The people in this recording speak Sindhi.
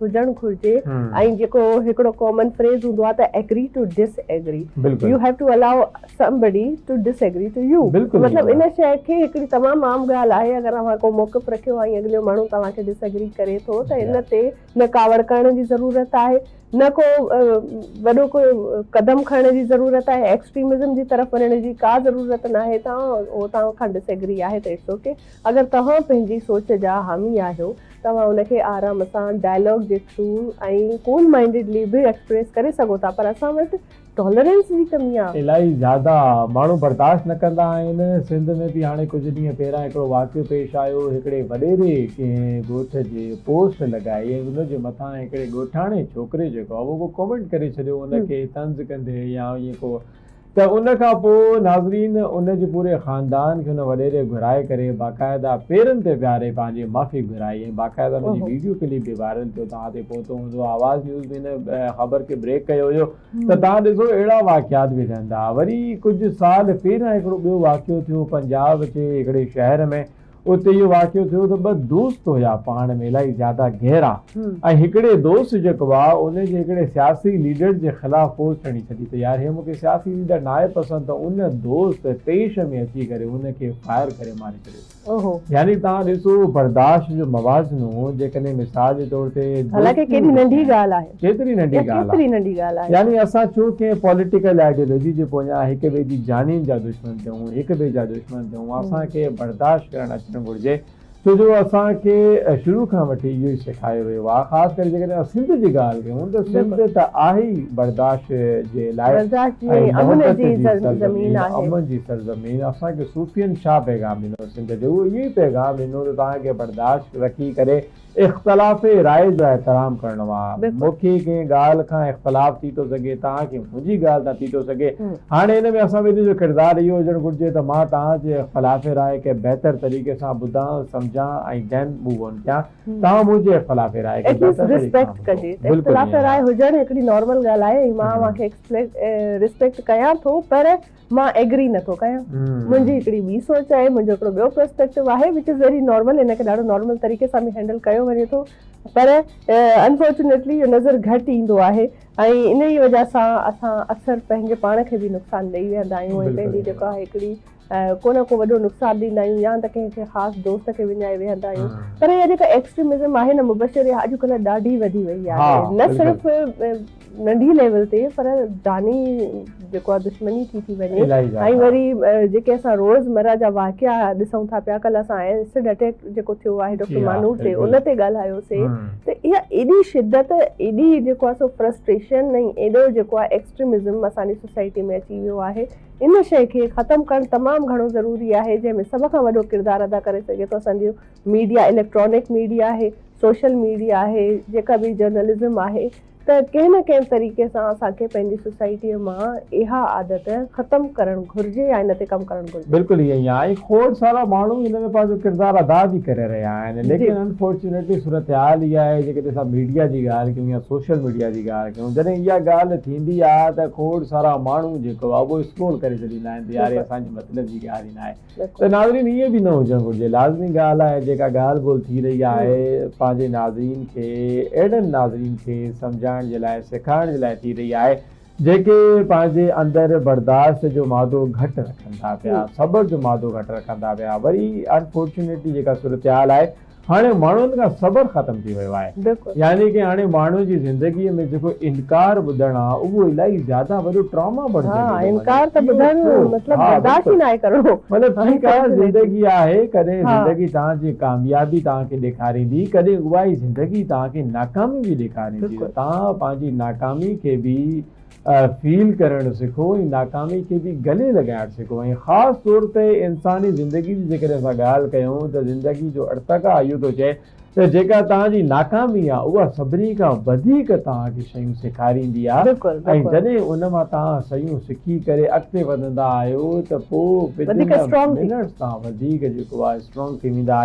هجڻ گهرجي ۽ جيڪو هڪڙو ڪامن فريز هوندو آهي ته agree to disagree you have to allow somebody to disagree to you مطلب ان شيء کي هڪڙي تمام عام ڳالهه آهي اگر اوهان ڪو موقف رکيو ۽ اڳليو ماڻهو توهان کي ڊس ايگري ڪري ٿو ته ان تي نه ڪاوڙ ڪرڻ جي ضرورت آهي نه ڪو وڏو ڪو قدم کڻڻ جي ضرورت آهي ايڪسٽريمزم جي طرف وڃڻ جي ڪا ضرورت ناهي توهان اوهان کان ڊس ايگري آهي ته اٽس اوڪي اگر توهان پنهنجي سوچ جا حامي آهيو توهان ان کي آرام سان ڊائلاگ جي ٿرو ۽ ڪول مائنڊيڊلي به ايڪسپريس ڪري سگهو ٿا پر اسان وٽ ٽالرينس جي ڪمي آ. الاهي زياده آ. ماڻهو برداشت نه ڪندا آهن. سنڌ ۾ به هاڻي ڪجهه ڏينهن پهريان هڪڙو واقعو پيش آيو. هڪڙي وڏيري ڪنهن ڳوٺ جي پوسٽ لڳائي ۽ ان جي مٿان هڪڙي ڳوٺاڻي ڇوڪري جيڪو آ اهو ڪو ڪومينٽ ڪري ڇڏيو ان کي طنز ڪندي يا ائين ڪو ته ان کان پوء ناظرين ان جي پوري خاندان کي ان وڏيري گهرائي ڪري باقاعده پيرن تي ويهاري پنهنجي معافي گهرائي ۽ باقاعده ان جي ويڊيو ڪلپ به وائرل ٿيو توهان تائين پهتو هوندو آواز نيوز به ان خبر کي بريڪ ڪيو هيو ته توهان ڏسو اهڙا واقعات به ٿين ٿا وري ڪجهه سال پهريان هڪڙو ٻيو واقعو ٿيو پنجاب جي هڪڙي شهر ۾ اتي اهو واقعو ٿيو ته ٻه دوست هيا پاڻ ۾ الائي زياده گهرا ۽ هڪڙي دوست جيڪو آ ان جي هڪڙي سياسي ليڊر جي خلاف فوج کڻي ڇڏي ته يار هي مون کي سياسي ليڊر ناهي پسند ته ان دوست طيش ۾ اچي ڪري ان کي فائر ڪري ماري ڇڏيو يعني تهان ڏسو برداشت جو موازنو جيڪڏهن مثال جي طور تي حالانڪه ڪيڏي ننڍي ڳالهه آهي ڪيتري ننڍي ڳالهه آهي يعني اسان ڇو ڪنهن پوليٽيڪل آئيڊيولوجي جي پويان هڪ ٻئي جي جانين جا دشمن ٿيون هڪ ٻئي جا دشمن هو اسان کي برداشت ڪرڻ اچڻ گهرجي ڇو جو اسان کي شروع کان وٺي اهو ئي سيکايو ويو آهي خاص ڪري جيڪڏهن اسان سنڌ جي ڳالهه ڪيون ته سنڌ ته آهي ئي برداشت جي لاء ۽ محبت جي سرزمين امن جي سرزمين اسان کي صوفين ڇا پيغام ڏنو سنڌ جي اهو ئي پيغام ڏنو ته توهان کي برداشت رکي ڪري اختلاف راء جو احترام ڪرڻو آ مون کي ڪنهن ڳالهه کان اختلاف ٿي ٿو سگهي توهان کي منهنجي ڳالهه تان ٿي ٿو سگهي هاڻي ان ۾ اسان ٻنهي جو ڪردار اهو هجڻ گهرجي ته مان توهان جي اختلاف راء کي بهتر طريقي سان ٻڌان سمجهان ۽ then move on ڪيان توهان منهنجي اختلاف راء کي بهتر طريقي سان ٻڌو بلڪل ايئن آهي. مان ايگري نٿو ڪيان منهنجي هڪڙي ٻي سوچ آهي منهنجو هڪڙو ٻيو پرسپيڪٽو آهي وچ از ويري نارمل ان کي ڏاڍو نارمل طريقي سان به هينڊل ڪيو وڃي ٿو پر انفارچونيٽلي اهو نظر گهٽ ايندو آهي ۽ انهي وجه سان اسان اڪثر پنهنجي پاڻ کي به نقصان ڏئي ويهندا آهيون ۽ پنهنجي جيڪو آهي هڪڙي ڪو نه ڪو وڏو نقصان ڏيندا آهيون يا ته ڪنهن کي خاص دوست کي وڃائي ويهندا آهيون پر اها جيڪا ايڪسٽريمزم آهي نه مبشر اها اڄڪلهه ڏاڍي وڌي وئي آهي نه صرف ننڍي ليول تي پر جاني جيڪو آ دشمني ٿي ٿي وڃي ۽ وري جيڪي اسان روز مرا جا واقعا ڏسون ٿا پيا ڪل اسان ايسڊ اٽيڪ جيڪو ٿيو آهي ڊاڪٽر مانور تي ان تي ڳالهايو سي ته اها ايڏي شدت ايڏي جيڪو آ سو فرسٽريشن ۽ ايڏو جيڪو آ ايڪسٽريمزم اسان جي سوسائٽي ۾ اچي ويو آهي ان شئي کي ختم ڪرڻ تمام گهڻو ضروري آهي جنهن ۾ سڀ کان وڏو ڪردار ادا ڪري سگهي ٿو اسان جو ميڊيا اليڪٽرانڪ ميڊيا آهي سوشل ميڊيا آهي جيڪا به جرنلزم آهي ته ڪنهن نه ڪنهن طريقي سان اسان کي پنهنجي سوسائٽيء مان اها عادت ختم ڪرڻ گهرجي يا ان تي ڪم ڪرڻ گهرجي. بلڪل ائين ئي آهي ۽ کوڙ سارا ماڻهو ان ۾ پنهنجو ڪردار ادا به ڪري رهيا آهن ليڪن انفارچونيٽلي صورتحال اها آهي جيڪڏهن اسان ميڊيا جي ڳالهه ڪيون يا سوشل ميڊيا جي ڳالهه ڪيون جڏهن اها ڳالهه ٿيندي آهي ته کوڙ سارا ماڻهو جيڪو آهي اهو اسڪرول ڪري ڇڏيندا آهن ته يار هي اسان جي مطلب جي ڳالهه ئي ناهي ته ناظرين ائين به نه هجڻ گهرجي. لازمي ڳالهه آهي جيڪا ڳالهه ٻولهه ٿي رهي آهي پنهنجي ناظرين کي اهڙن ناظرين کي سمجهائڻ جي لاء سيکارڻ جي لاء ٿي رهي آهي جيڪي پنهنجي اندر برداشت جو مادو گهٽ رکن ٿا پيا صبر جو مادو گهٽ رکن ٿا پيا وري انفارچونيٽلي جيڪا صورتحال آهي هاڻي ماڻهن کان صبر ختم ٿي ويو آهي يعني ڪي هاڻي ماڻهو جي زندگي ۾ جيڪو انڪار ٻڌڻ آ اهو الائي زياده وڏو ٽراما بڻجي ويو آهي ها انڪار ته ٻڌڻ مطلب برداشت ئي ناهي ڪرڻو مطلب ٺيڪ آ زندگي آهي ڪڏهن زندگي توهان جي ڪاميابي توهان کي ڏيکاريندي ڪڏهن اهائي زندگي توهان کي ناڪامي به ڏيکاريندي ته توهان پنهنجي ناڪامي کي به فيل ڪرڻ سکو ۽ ناڪامي کي به گلي لڳائڻ سکو ۽ خاص طور تي انساني زندگي جي جيڪڏهن اسان ڳالهه ڪيون ته زندگي جو ارتقا اهو ٿو چئي ته جيڪا توهان جي ناڪامي آهي اها سڀني کان وڌيڪ توهان کي شيون سيکاريندي آهي ۽ جڏهن ان مان توهان شيون سکي ڪري اڳتي وڌندا آهيو ته پوء ودن ان منٽس توهان وڌيڪ جيڪو آهي اسٽرانگ ٿي ويندا آهيو.